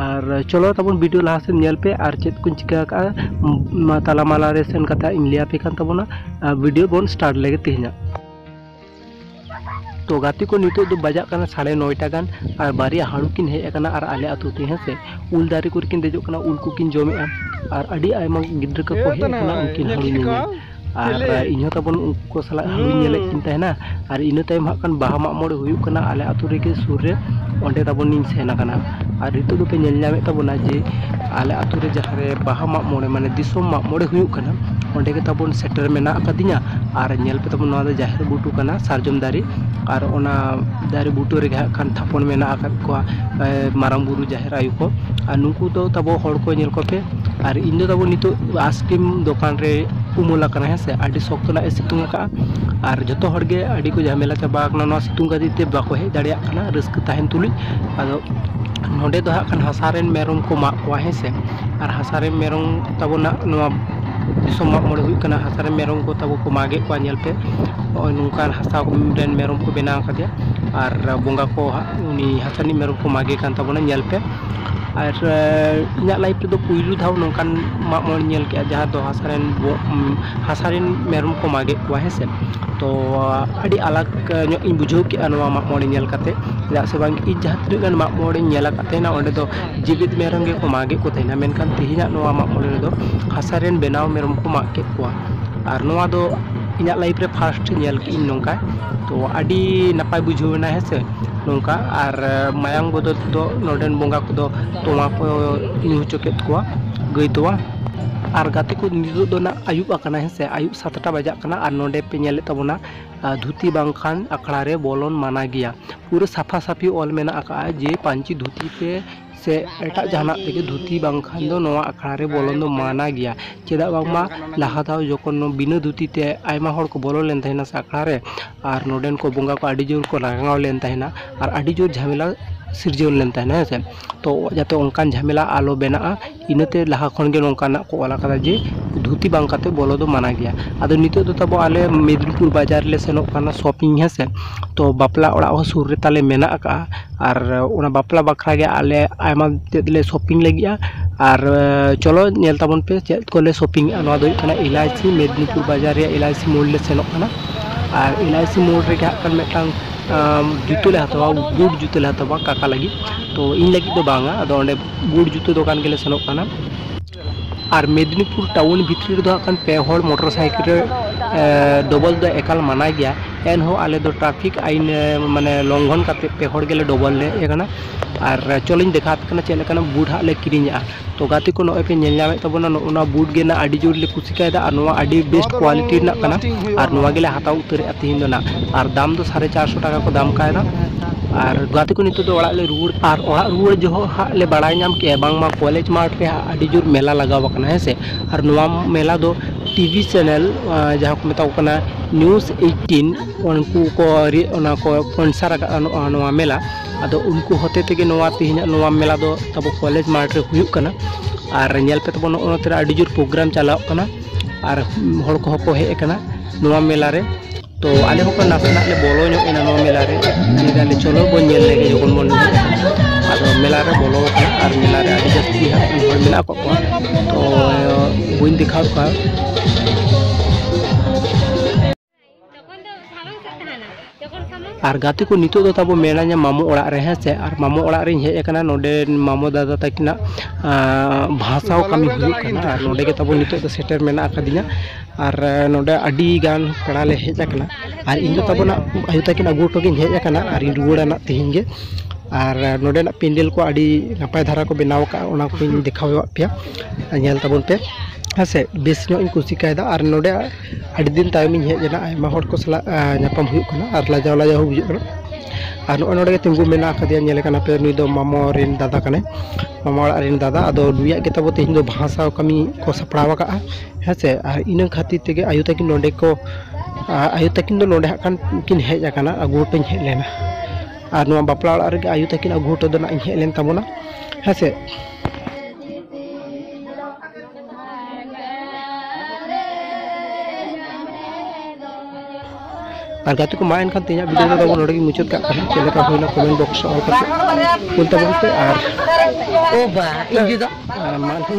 ᱟᱨ ᱪᱚᱞᱚ ᱛᱟᱵᱚᱱ ᱵᱷᱤᱰᱤᱭᱳ ᱞᱟᱦᱟ ᱥᱮᱫ ᱧᱮᱞ ᱯᱮ ᱟᱨ ᱪᱮᱫ ᱠᱚᱧ ᱪᱤᱠᱟᱹ ᱟᱠᱟᱫᱼᱟ ᱢᱟ ᱛᱟᱞᱟ ᱢᱟᱞᱟ ᱨᱮ ᱥᱮᱱ ᱠᱟᱛᱮ ᱤᱧ ᱞᱟᱹᱭ ᱟᱯᱮ ᱠᱟᱱ ᱛᱟᱵᱚᱱᱟ ᱟᱨ ᱵᱷᱤᱰᱤᱭᱳ ᱵᱚᱱ ᱥᱴᱟᱨᱴ ᱞᱮᱜᱮ ᱛᱮᱦᱮᱧᱟᱜ ᱛᱚ ᱜᱟᱛᱮ ᱠᱚ ᱱᱤᱛᱚᱜ ᱫᱚ ᱵᱟᱡᱟᱜ ᱠᱟᱱᱟ ᱥᱟᱲᱮ ᱱᱚᱭᱴᱟ ᱜᱟᱱ ᱟᱨ ᱵᱟᱨᱭᱟ ᱦᱟᱹᱲᱩ ᱠᱤᱱ ᱦᱮᱡ ᱟᱠᱟᱱᱟ ᱟᱨ ᱟᱞᱮ ᱟᱛᱳ ᱛᱮ ᱦᱮᱸ ᱥᱮ ᱩᱞ ᱫᱟᱨᱮ ᱠᱚᱨᱮ ᱠᱤᱱ ᱫᱮᱡᱚᱜ ᱠᱟᱱᱟ ᱩᱞ ᱠᱚᱠᱤᱱ ᱡᱚᱢᱮᱜᱼᱟ ᱟᱨ ᱟᱹᱰᱤ ᱟᱭᱢᱟ ᱜᱤᱫᱽᱨᱟᱹ ᱠᱚᱠᱚ ᱦᱮᱡ ᱟᱠᱟᱱᱟ ᱩᱱᱠᱤᱱ ᱦᱟᱹᱲᱩ ᱧᱮᱧᱮᱞ ᱟᱨ ᱤᱧ ᱦᱚᱸ ᱛᱟᱵᱚᱱ ᱩᱱᱠᱩ ᱠᱚ ᱥᱟᱞᱟᱜ ᱦᱩᱧ ᱧᱮᱞᱮᱫ ᱠᱤᱱ ᱛᱟᱦᱮᱱᱟ ᱟᱨ ᱤᱱᱟᱹ ᱛᱟᱭᱚᱢ ᱦᱟᱸᱜ ᱠᱷᱟᱱ ᱵᱟᱦᱟ ᱢᱟᱜ ᱢᱚᱬᱮ ᱦᱩᱭᱩᱜ ᱠᱟᱱᱟ ᱟᱞᱮ ᱟᱹᱛᱩ ᱨᱮᱜᱮ ᱥᱩᱨ ᱨᱮ ᱚᱸᱰᱮ ᱛᱟᱵᱚᱱᱤᱧ ᱥᱮᱱ ᱟᱠᱟᱱᱟ ᱟᱨ ᱱᱤᱛᱚᱜ ᱫᱚᱯᱮ ᱧᱮᱞ ᱧᱟᱢᱮᱫ ᱛᱟᱵᱚᱱᱟ ᱡᱮ ᱟᱞᱮ ᱟᱹᱛᱩ ᱨᱮ ᱡᱟᱦᱟᱸ ᱨᱮ ᱵᱟᱦᱟ ᱢᱟᱜ ᱢᱚᱬᱮ ᱢᱟᱱᱮ ᱫᱤᱥᱚᱢ ᱢᱟᱜ ᱢᱚᱬᱮ ᱦᱩᱭᱩᱜ ᱠᱟᱱᱟ ᱚᱸᱰᱮ ᱜᱮ ᱛᱟᱵᱚᱱ ᱥᱮᱴᱮᱨ ᱢᱮᱱᱟᱜ ᱟᱠᱟᱫᱤᱧᱟ ᱟᱨ ᱧᱮᱞ ᱯᱮ ᱛᱟᱵᱚᱱ ᱱᱚᱣᱟ ᱫᱚ ᱡᱟᱦᱮᱨ ᱵᱩᱴᱟᱹ ᱠᱟᱱᱟ ᱥᱟᱨᱡᱚᱢ ᱫᱟᱨᱮ ᱟᱨ ᱚᱱᱟ ᱫᱟᱨᱮ ᱵᱩᱴᱟᱹ ᱨᱮᱜᱮ ᱦᱟᱸᱜ ᱠᱷᱟᱱ ᱛᱷᱟᱯᱚᱱ ᱢᱮᱱᱟᱜ ᱟᱠᱟᱫ ᱠᱚᱣᱟ ᱢᱟᱨᱟᱝ ᱵᱩᱨᱩ ᱡᱟᱦᱮᱨ ᱰᱷᱮᱨ ᱟᱭᱳ ᱠᱚ ᱟᱨ ᱱᱩᱠᱩ ᱫᱚ ᱛᱟᱵᱚ ᱦᱚᱲ ᱠᱚ ᱧᱮᱞ ᱠᱚᱯᱮ ᱟᱨ ᱤᱧ ᱫᱚ ᱛᱟᱵᱚ ᱱᱤᱛᱚᱜ ᱟᱭᱤᱥᱠᱨᱤᱢ ᱫᱚᱠᱟᱱ ᱨᱮ ᱩᱢᱩᱞ ᱟᱠᱟᱱᱟ ᱦᱮᱸ ᱥᱮ ᱟᱹᱰᱤ ᱥᱚᱠᱛᱚ ᱱᱟᱜ ᱮ ᱥᱤᱛᱩᱝ ᱟᱠᱟᱫᱼᱟ ᱟᱨ ᱡᱚᱛᱚ ᱦᱚᱲ ᱜᱮ ᱟᱹᱰᱤ ᱠᱚ ᱡᱷᱟᱢᱮᱞᱟ ᱪᱟᱵᱟ ᱟᱠᱟᱱᱟ ᱱᱚᱣᱟ ᱥᱤᱛᱩᱝ ᱠᱷᱟᱹᱛᱤᱨ ᱛᱮ ᱵᱟᱠᱚ ᱦᱮᱡ ᱫᱟᱲᱮᱭᱟᱜ ᱠᱟᱱᱟ ᱨᱟᱹᱥᱠᱟᱹ ᱛᱟᱦᱮᱱ ᱛᱩᱞᱩᱡ ᱟᱫᱚ ᱱᱚᱰᱮ ᱫᱚ ᱦᱟᱸᱜ ᱠᱷᱟᱱ ᱦᱟᱥᱟ ᱨᱮᱱ ᱢᱮᱨᱚᱢ ᱠᱚ ᱢᱟᱜ ᱠᱚᱣᱟ ᱦᱮᱸ ᱥᱮ ᱟᱨ ᱦᱟᱥᱟ ᱨᱮᱱ ᱢᱮᱨᱚᱢ ᱛᱟᱵᱚ ᱱᱟᱜ ᱱᱚᱣᱟ ᱫᱤᱥᱚᱢ ᱢᱟᱜ ᱢᱚᱬᱮ ᱦᱩᱭᱩᱜ ᱠᱟᱱᱟ ᱦᱟᱥᱟ ᱨᱮᱱ ᱢᱮᱨᱚᱢ ᱠᱚ ᱛᱟᱵᱚ ᱠᱚ ᱢᱟᱜᱮᱫ ᱠᱚᱣᱟ ᱧᱮᱞ ᱯᱮ ᱱᱚᱜᱼᱚᱭ ᱱᱚᱝᱠᱟᱱ ᱦᱟᱥᱟ ᱨᱮᱱ ᱢᱮᱨᱚᱢ ᱠᱚ ᱵᱮᱱᱟᱣ ᱟᱠᱟᱫᱮᱭᱟ ᱟᱨ ᱵᱚᱸᱜᱟ ᱠᱚ ᱦᱟᱸᱜ ᱩᱱᱤ ᱛᱟᱹᱱᱤᱡ ᱢᱮᱨᱚᱢ ᱠᱚ ᱢᱟᱜᱮ ᱠᱟᱱ ᱛᱟᱵᱚᱱᱟ ᱧᱮᱞ ᱯᱮ ᱟᱨ ᱤᱧᱟᱹᱜ ᱞᱟᱭᱤᱯᱷ ᱨᱮᱫᱚ ᱯᱩᱭᱞᱩ ᱫᱷᱟᱣ ᱱᱚᱝᱠᱟᱱ ᱢᱟᱜ ᱢᱚᱬᱮᱧ ᱧᱮᱞ ᱠᱮᱜᱼᱟ ᱡᱟᱦᱟᱸ ᱫᱚ ᱦᱟᱥᱟ ᱨᱮᱱ ᱦᱟᱥᱟ ᱨᱮᱱ ᱢᱮᱨᱚᱢ ᱠᱚ ᱢᱟᱜᱮᱜ ᱠᱚᱣᱟ ᱦᱮᱸ ᱥᱮ ᱛᱚ ᱟᱹᱰᱤ ᱟᱞᱟᱠ ᱧᱚᱜ ᱤᱧ ᱵᱩᱡᱷᱟᱹᱣ ᱠᱮᱜᱼᱟ ᱱᱚᱣᱟ ᱢᱟᱜ ᱢᱚᱬᱮ ᱧᱮᱞ ᱠᱟᱛᱮ ᱪᱮᱫᱟᱜ ᱥᱮ ᱵᱟᱝ ᱤᱧ ᱡᱟᱦᱟᱸ ᱛᱤᱱᱟᱹᱜ ᱜᱟᱱ ᱢᱟᱜ ᱢᱚᱬᱮᱧ ᱧᱮᱞ ᱟᱠᱟᱫ ᱛᱟᱦᱮᱱᱟ ᱚᱸᱰᱮ ᱫᱚ ᱡᱮᱣᱮᱫ ᱢᱮᱨᱚᱢ ᱜᱮᱠᱚ ᱢᱟᱜᱮᱜ ᱠᱚ ᱛᱟᱦᱮᱱᱟ ᱢᱮᱱᱠᱷᱟᱱ ᱛᱮᱦᱮᱧᱟᱜ ᱱᱚᱣᱟ ᱢᱟᱜ ᱢᱚᱬᱮ ᱨᱮᱫᱚ ᱦᱟᱥᱟ ᱨᱮᱱ ᱵᱮᱱᱟᱣ ᱢᱮᱨᱚᱢ ᱠᱚ ᱢᱟᱜ ᱠᱮᱜ ᱠᱚᱣᱟ ᱟᱨ ᱱᱚᱣᱟ ᱫᱚ ᱤᱧᱟᱹᱜ ᱞᱟᱭᱤᱯᱷ ᱨᱮ ᱯᱷᱟᱥᱴ ᱧᱮᱞ ᱠᱮᱜ ᱟᱹᱧ ᱱᱚᱝᱠᱟ ᱛᱚ ᱟᱹᱰᱤ ᱱᱟᱯᱟᱭ ᱵᱩᱡᱷᱟᱹᱣ ᱮᱱᱟ ᱦᱮᱸ ᱥᱮ ᱱᱚᱝᱠᱟ ᱟᱨ ᱢᱟᱭᱟᱝ ᱵᱚᱫᱚᱞ ᱛᱮᱫᱚ ᱱᱚᱰᱮᱱ ᱵᱚᱸᱜᱟ ᱠᱚᱫᱚ ᱛᱚᱣᱟ ᱠᱚ ᱧᱩ ᱦᱚᱪᱚ ᱠᱮᱫ ᱠᱚᱣᱟ ᱜᱟᱹᱭ ᱛᱚᱣᱟ ᱟᱨ ᱜᱟᱛᱮ ᱠᱚ ᱱᱤᱛᱚᱜ ᱫᱚ ᱱᱟᱜ ᱟᱹᱭᱩᱵ ᱟᱠᱟᱱᱟ ᱦᱮᱸ ᱥᱮ ᱟᱹᱭᱩᱵ ᱥᱟᱛᱴᱟ ᱵᱟᱡᱟᱜ ᱠᱟᱱᱟ ᱟᱨ ᱱᱚᱰᱮ ᱯᱮ ᱧᱮᱞᱮᱫ ᱛᱟᱵᱚᱱᱟ ᱟᱨ ᱫᱷᱩᱛᱤ ᱵᱟᱝᱠᱷᱟᱱ ᱟᱠᱷᱲᱟ ᱨᱮ ᱵᱚᱞᱚᱱ ᱢᱟᱱᱟ ᱜᱮᱭᱟ ᱯᱩᱨᱟᱹ ᱥᱟᱯᱷᱟ ᱥᱟᱹᱯᱷᱤ ᱚᱞ ᱢᱮᱱᱟᱜ ᱟᱠᱟᱫᱼᱟ ᱡᱮ ᱯᱟᱹᱧᱪᱤ ᱫᱷᱩᱛᱤ ᱛᱮ ᱥᱮ ᱮᱴᱟᱜ ᱡᱟᱦᱟᱱᱟᱜ ᱛᱮᱜᱮ ᱫᱷᱩᱛᱤ ᱵᱟᱝᱠᱷᱟᱱ ᱫᱚ ᱱᱚᱣᱟ ᱟᱠᱷᱲᱟ ᱨᱮ ᱵᱚᱞᱚᱱ ᱫᱚ ᱢᱟᱱᱟ ᱜᱮᱭᱟ ᱪᱮᱫᱟᱜ ᱵᱟᱝᱢᱟ ᱞᱟᱦᱟ ᱫᱷᱟᱣ ᱡᱚᱠᱷᱚᱱ ᱵᱤᱱᱟᱹ ᱫᱷᱩᱛᱤ ᱛᱮ ᱟᱭᱢᱟ ᱦᱚᱲ ᱠᱚ ᱵᱚᱞᱚ ᱞᱮᱱ ᱛᱟᱦᱮᱱᱟ ᱥᱮ ᱟᱠᱷᱲᱟ ᱨᱮ ᱟᱨ ᱱᱚᱰᱮᱱ ᱠᱚ ᱵᱚᱸᱜᱟ ᱠᱚ ᱟᱹᱰᱤ ᱡᱳᱨ ᱠᱚ ᱨᱟᱸᱜᱟᱣ ᱞᱮᱱ ᱛᱟᱦᱮᱱᱟ ᱟᱨ ᱟᱹᱰᱤ ᱡᱳᱨ ᱡᱷᱟᱢᱮᱞᱟ ᱥᱤᱨᱡᱟᱹᱣ ᱞᱮᱱ ᱛᱟᱦᱮᱱᱟ ᱦᱮᱸ ᱥᱮ ᱛᱚ ᱡᱟᱛᱮ ᱚᱱᱠᱟᱱ ᱡᱷᱟᱢᱮᱞᱟ ᱟᱞᱚ ᱵᱮᱱᱟᱜᱼᱟ ᱤᱱᱟᱹᱛᱮ ᱞᱟᱦᱟ ᱠᱷᱚᱱ ᱜᱮ ᱱᱚᱝᱠᱟᱱᱟᱜ ᱠᱚ ᱚᱞ ᱟᱠᱟᱫᱟ ᱡᱮ ᱫᱷᱩᱛᱤ ᱵᱟᱝ ᱠᱟᱛᱮ ᱵᱚᱞᱚ ᱫᱚ ᱢᱟᱱᱟ ᱜᱮᱭᱟ ᱟᱫᱚ ᱱᱤᱛᱚᱜ ᱫᱚ ᱛᱟᱵᱚ ᱟᱞᱮ ᱢᱮᱫᱽᱱᱤᱯᱩᱨ ᱵᱟᱡᱟᱨ ᱞᱮ ᱥᱮᱱᱚᱜ ᱠᱟᱱᱟ ᱥᱚᱯᱤᱝ ᱦᱮᱸ ᱥᱮ ᱛᱚ ᱵᱟᱯᱞᱟ ᱚᱲᱟᱜ ᱦᱚᱸ ᱥᱩᱨ ᱨᱮ ᱛᱟᱞᱮ ᱢᱮᱱᱟᱜ ᱟᱠᱟᱫᱼᱟ ᱟᱨ ᱚᱱᱟ ᱵᱟᱯᱞᱟ ᱵᱟᱠᱷᱨᱟ ᱜᱮ ᱟᱞᱮ ᱟᱭᱢᱟ ᱛᱮᱫ ᱞᱮ ᱥᱚᱯᱤᱝ ᱞᱟᱹᱜᱤᱫᱼᱟ ᱟᱨ ᱪᱚᱞᱚ ᱧᱮᱞ ᱛᱟᱵᱚᱱ ᱯᱮ ᱪᱮᱫ ᱠᱚᱞᱮ ᱥᱚᱯᱤᱝ ᱮᱫᱼᱟ ᱱᱚᱣᱟ ᱫᱚ ᱦᱩᱭᱩᱜ ᱠᱟᱱᱟ ᱮᱞ ᱟᱭ ᱥᱤ ᱢᱮᱫᱽᱱᱤᱯᱩᱨ ᱵᱟᱡᱟᱨ ᱨᱮᱭᱟᱜ ᱮᱞ ᱟᱭ ᱥᱤ ᱢᱳᱲ ᱞᱮ ᱥᱮᱱᱚᱜ ᱠᱟᱱᱟ ᱟᱨ ᱮᱞ ᱟᱭ ᱥᱤ ᱢᱳᱲ ᱨᱮᱜᱮ ᱦᱟᱸᱜ ᱠᱷᱟᱱ ᱢᱤᱫᱴᱟᱝ ᱡᱩᱛᱟᱹ ᱞᱮ ᱦᱟᱛᱟᱣᱟ ᱵᱩᱴ ᱡᱩᱛᱟᱹ ᱞᱮ ᱦᱟᱛᱟᱣᱟ ᱠᱟᱠᱟ ᱞᱟᱹᱜᱤᱫ ᱛᱚ ᱤᱧ ᱞᱟᱹᱜᱤᱫ ᱫᱚ ᱵᱟᱝᱼᱟ ᱟᱫᱚ ᱚᱸᱰᱮ ᱜᱩᱲ ᱡᱩᱛᱟᱹ ᱫᱚᱠᱟᱱ ᱜᱮᱞᱮ ᱥᱮᱱᱚᱜ ᱠᱟᱱᱟ ᱟᱨ ᱢᱮᱫᱽᱱᱤᱯᱩᱨ ᱴᱟᱣᱩᱱ ᱵᱷᱤᱛᱨᱤ ᱨᱮᱫᱚ ᱦᱟᱸᱜ ᱠᱷᱟᱱ ᱯᱮ ᱦᱚᱲ ᱢᱚᱴᱚᱨ ᱥᱟᱭᱠᱮᱞ ᱨᱮ ᱰᱚᱵᱚᱞ ᱫᱚ ᱮᱠᱟᱞ ᱢᱟᱱᱟ ᱜᱮᱭᱟ ᱮᱱᱦᱚᱸ ᱟᱞᱮ ᱫᱚ ᱴᱨᱟᱯᱷᱤᱠ ᱟᱭᱤᱱ ᱢᱟᱱᱮ ᱞᱚᱝᱜᱷᱚᱱ ᱠᱟᱛᱮ ᱯᱮ ᱦᱚᱲ ᱜᱮᱞᱮ ᱰᱚᱵᱚᱞ ᱞᱮ ᱦᱮᱡ ᱟᱠᱟᱱᱟ ᱟᱨ ᱪᱚᱞᱤᱧ ᱫᱮᱠᱷᱟᱣ ᱟᱯᱮ ᱠᱟᱱᱟ ᱪᱮᱫ ᱞᱮᱠᱟᱱᱟᱜ ᱵᱩᱴ ᱦᱟᱸᱜ ᱞᱮ ᱠᱤᱨᱤᱧᱮᱜᱼᱟ ᱛᱚ ᱜᱟᱛᱮ ᱠᱚ ᱱᱚᱜᱼᱚᱭ ᱯᱮ ᱧᱮᱞ ᱧᱟᱢᱮᱫ ᱛᱟᱵᱚᱱᱟ ᱱᱚᱜᱼᱚ ᱱᱚᱣᱟ ᱵᱩᱴ ᱜᱮ ᱱᱟᱜ ᱟᱹᱰᱤ ᱡᱳᱨ ᱞᱮ ᱠᱩᱥᱤ ᱠᱟᱭᱫᱟ ᱟᱨ ᱱᱚᱣᱟ ᱟᱹᱰᱤ ᱵᱮᱥᱴ ᱠᱳᱣᱟᱞᱤᱴᱤ ᱨᱮᱱᱟᱜ ᱠᱟᱱᱟ ᱟᱨ ᱱᱚᱣᱟ ᱜᱮᱞᱮ ᱦᱟᱛᱟᱣ ᱩᱛᱟᱹᱨᱮᱜᱼᱟ ᱛᱤᱦᱤᱧ ᱫᱚ ᱱᱟᱜ ᱟᱨ ᱫᱟᱢ ᱫᱚ ᱥᱟᱲᱮ ᱪᱟᱨᱥᱚ ᱴᱟᱠᱟ ᱠᱚ ᱫᱟᱢ ᱠᱟᱣᱫᱟ ᱟᱨ ᱜᱟᱛᱮ ᱠᱚ ᱱᱤᱛᱚᱜ ᱫᱚ ᱚᱲᱟᱜ ᱞᱮ ᱨᱩᱣᱟᱹᱲ ᱟᱨ ᱚᱲᱟᱜ ᱨᱩᱣᱟᱹᱲ ᱡᱚᱦᱚᱜ ᱦᱟᱸᱜ ᱞᱮ ᱵᱟᱲᱟᱭ ᱧᱟᱢ ᱠᱮᱫᱼᱟ ᱵᱟᱝᱢᱟ ᱠᱚᱞᱮᱡᱽ ᱢᱟᱴᱷ ᱨᱮ ᱦᱟᱸᱜ ᱟᱹᱰᱤ ᱡᱳᱨ ᱢᱮᱞᱟ ᱞᱟᱜᱟᱣ ᱟᱠᱟᱱᱟ ᱦᱮᱸ ᱥᱮ ᱟᱨ ᱱᱚᱣᱟ ᱢᱮᱞᱟ ᱫᱚ ᱴᱤᱵᱷᱤ ᱪᱮᱱᱮᱞ ᱡᱟᱦᱟᱸ ᱠᱚ ᱢᱮᱛᱟ ᱠᱚ ᱠᱟᱱᱟ ᱱᱤᱭᱩᱡᱽ ᱮᱭᱤᱴᱴᱤᱱ ᱩᱱᱠᱩ ᱠᱚ ᱚᱱᱟ ᱠᱚ ᱥᱯᱳᱱᱥᱟᱨ ᱟᱠᱟᱫᱼᱟ ᱱᱚᱜᱼᱚᱭ ᱱᱚᱣᱟ ᱢᱮᱞᱟ ᱟᱫᱚ ᱩᱱᱠᱩ ᱦᱚᱛᱮ ᱛᱮᱜᱮ ᱱᱚᱣᱟ ᱛᱮᱦᱮᱧᱟᱜ ᱱᱚᱣᱟ ᱢᱮᱞᱟ ᱫᱚ ᱛᱟᱵᱚ ᱠᱚᱞᱮᱡᱽ ᱢᱟᱴᱷ ᱨᱮ ᱦᱩᱭᱩᱜ ᱠᱟᱱᱟ ᱟᱨ ᱧᱮᱞ ᱯᱮ ᱛᱟᱵᱚᱱ ᱱᱚᱜᱼᱚᱭ ᱱᱚᱛᱮ ᱨᱮ ᱟᱹᱰᱤ ᱡᱳᱨ ᱯᱨᱳᱜᱨᱟᱢ ᱪᱟᱞᱟᱜ ᱠᱟᱱᱟ ᱟᱨ ᱦᱚᱲ ᱠᱚᱦᱚᱸ ᱠᱚ ᱦᱮᱡ ᱟᱠᱟᱱᱟ ᱱᱚᱣᱟ ᱢᱮᱞᱟ ᱨᱮ ᱛᱚ ᱟᱞᱮ ᱦᱚᱸ ᱱᱟᱥᱮᱱᱟᱜ ᱞᱮ ᱵᱚᱞᱚ ᱧᱚᱜ ᱮᱱᱟ ᱱᱚᱣᱟ ᱢᱮᱞᱟ ᱨᱮ ᱞᱟᱹᱭᱫᱟᱞᱮ ᱪᱚᱞᱚ ᱵᱚᱱ ᱧᱮᱞ ᱞᱮᱜᱮ ᱡᱚᱠᱷᱚᱱ ᱵᱚᱱ ᱟᱫᱚ ᱢᱮᱞᱟ ᱨᱮ ᱵᱚᱞᱚ ᱟᱠᱟᱱᱟ ᱟᱨ ᱢᱮᱞᱟ ᱨᱮ ᱟᱹᱰᱤ ᱡᱟᱹᱥᱛᱤ ᱦᱟᱸᱜ ᱦᱚᱲ ᱢᱮᱱᱟᱜ ᱠᱚ ᱠᱚᱣᱟ ᱛᱚ ᱵᱟᱹᱧ ᱫᱮᱠᱷᱟᱣ ᱠᱚᱣᱟ ᱟᱨ ᱜᱟᱛᱮ ᱠᱚ ᱱᱤᱛᱚᱜ ᱫᱚ ᱛᱟᱵᱚ ᱢᱮᱱᱟᱧᱟ ᱢᱟᱢᱚ ᱚᱲᱟᱜ ᱨᱮ ᱦᱮᱸ ᱥᱮ ᱟᱨ ᱢᱟᱢᱚ ᱚᱲᱟᱜ ᱨᱮᱧ ᱦᱮᱡ ᱟᱠᱟᱱᱟ ᱱᱚᱰᱮ ᱢᱟᱢᱚ ᱫᱟᱫᱟ ᱛᱟᱹᱠᱤᱱᱟᱜ ᱵᱷᱟᱥᱟᱣ ᱠᱟᱹᱢᱤ ᱦᱩᱭᱩᱜ ᱠᱟᱱᱟ ᱟᱨ ᱱᱚᱰᱮ ᱜᱮ ᱛᱟᱵᱚ ᱱᱤᱛᱚᱜ ᱫᱚ ᱥᱮᱴᱮᱨ ᱢᱮᱱᱟᱜ ᱟᱠᱟᱫᱤᱧᱟ ᱟᱨ ᱱᱚᱰᱮ ᱟᱹᱰᱤ ᱜᱟᱱ ᱯᱮᱲᱟ ᱞᱮ ᱦᱮᱡ ᱟᱠᱟᱱᱟ ᱟᱨ ᱤᱧ ᱫᱚ ᱛᱟᱵᱚᱱᱟ ᱟᱭᱳ ᱛᱟᱹᱠᱤᱱ ᱟᱹᱜᱩ ᱦᱚᱴᱚ ᱠᱤᱱ ᱦᱮᱡ ᱟᱠᱟᱱᱟ ᱟᱨ ᱤᱧ ᱨᱩᱣᱟᱹᱲᱟ ᱱᱟᱦᱟᱜ ᱛᱮᱦᱮᱧ ᱜᱮ ᱟᱨ ᱱᱚᱰᱮᱱᱟᱜ ᱯᱮᱱᱰᱮᱞ ᱠᱚ ᱟᱹᱰᱤ ᱱᱟᱯᱟᱭ ᱫᱷᱟᱨᱟ ᱠᱚ ᱵᱮᱱᱟᱣ ᱠᱟᱜᱼᱟ ᱚᱱᱟ ᱠᱚᱧ ᱫᱮᱠᱷᱟᱣᱟᱜ ᱯᱮᱭᱟ ᱟᱨ ᱧᱮᱞ ᱛᱟᱵᱚᱱ ᱯᱮ ᱦᱮᱸ ᱥᱮ ᱵᱮᱥ ᱧᱚᱜ ᱤᱧ ᱠᱩᱥᱤ ᱠᱟᱣᱫᱟ ᱟᱨ ᱱᱚᱰᱮ ᱟᱹᱰᱤ ᱫᱤᱱ ᱛᱟᱭᱚᱢ ᱤᱧ ᱦᱮᱡ ᱮᱱᱟ ᱟᱭᱢᱟ ᱦᱚᱲ ᱠᱚ ᱥᱟᱞᱟᱜ ᱧᱟᱯᱟᱢ ᱦᱩᱭᱩᱜ ᱠᱟᱱᱟ ᱟᱨ ᱞᱟᱡᱟᱣ ᱞᱟᱡᱟᱣ ᱦᱚᱸ ᱵᱩᱡᱷᱟᱹᱜ ᱠᱟᱱᱟ ᱟᱨ ᱱᱚᱜᱼᱚᱸᱭ ᱱᱚᱰᱮ ᱜᱮ ᱛᱤᱸᱜᱩ ᱢᱮᱱᱟᱜ ᱠᱟᱫᱮᱭᱟ ᱧᱮᱞᱮ ᱠᱟᱱᱟ ᱯᱮ ᱱᱩᱭ ᱫᱚ ᱢᱟᱢᱚ ᱨᱮᱱ ᱫᱟᱫᱟ ᱠᱟᱱᱟᱭ ᱢᱟᱢᱟ ᱚᱲᱟᱜ ᱨᱮᱱ ᱫᱟᱫᱟ ᱟᱫᱚ ᱱᱩᱭᱟᱜ ᱜᱮ ᱛᱟᱵᱚ ᱛᱮᱦᱮᱧ ᱫᱚ ᱵᱟᱦᱟ ᱥᱟᱶ ᱠᱟᱹᱢᱤ ᱠᱚ ᱥᱟᱯᱲᱟᱣ ᱠᱟᱜᱼᱟ ᱦᱮᱸ ᱥᱮ ᱟᱨ ᱤᱱᱟᱹ ᱠᱷᱟᱹᱛᱤᱨ ᱛᱮᱜᱮ ᱟᱭᱳ ᱛᱟᱹᱠᱤᱱ ᱱᱚᱰᱮ ᱠᱚ ᱟᱭᱳ ᱛᱟᱹᱠᱤᱱ ᱫᱚ ᱱᱚᱰᱮ ᱦᱟᱸᱜ ᱠᱷᱟᱱ ᱠᱤᱱ ᱦᱮᱡ ᱟᱠᱟᱱᱟ ᱟᱹᱜᱩ ᱦᱚᱴᱚᱧ ᱦᱮᱡ ᱞᱮᱱᱟ ᱟᱨ ᱱᱚᱣᱟ ᱵᱟᱯᱞᱟ ᱚᱲᱟᱜ ᱨᱮᱜᱮ ᱟᱭᱳ ᱛᱟᱹᱠᱤᱱ ᱟᱹᱜᱩ ᱦᱚᱴᱚ ᱫᱚ ᱱᱟᱜ ᱤᱧ ᱦᱮᱡ ᱞᱮᱱ ᱛᱟᱵᱚᱱᱟ ᱦᱮᱸ ᱥᱮ ᱟᱨ ᱜᱟᱛᱮ ᱠᱚ ᱢᱟ ᱮᱱᱠᱷᱟᱱ ᱛᱮᱦᱮᱧᱟᱜ ᱵᱷᱤᱰᱤᱭᱳ ᱫᱚ ᱱᱚᱰᱮ ᱜᱮ ᱢᱩᱪᱟᱹᱫ ᱠᱟᱜ ᱠᱟᱱᱟ ᱪᱮᱫ ᱞᱮᱠᱟ ᱦᱩᱭᱱᱟ ᱠᱚᱢᱮᱱᱴ ᱵᱚᱠᱥ ᱨᱮ ᱚᱞ ᱠᱟᱛᱮ ᱠᱩᱞ ᱛᱟᱵᱚᱱ ᱯᱮ ᱟᱨ ᱳ ᱵᱟ ᱤᱧ ᱫᱚ ᱢᱟ ᱮᱱᱠᱷᱟᱱ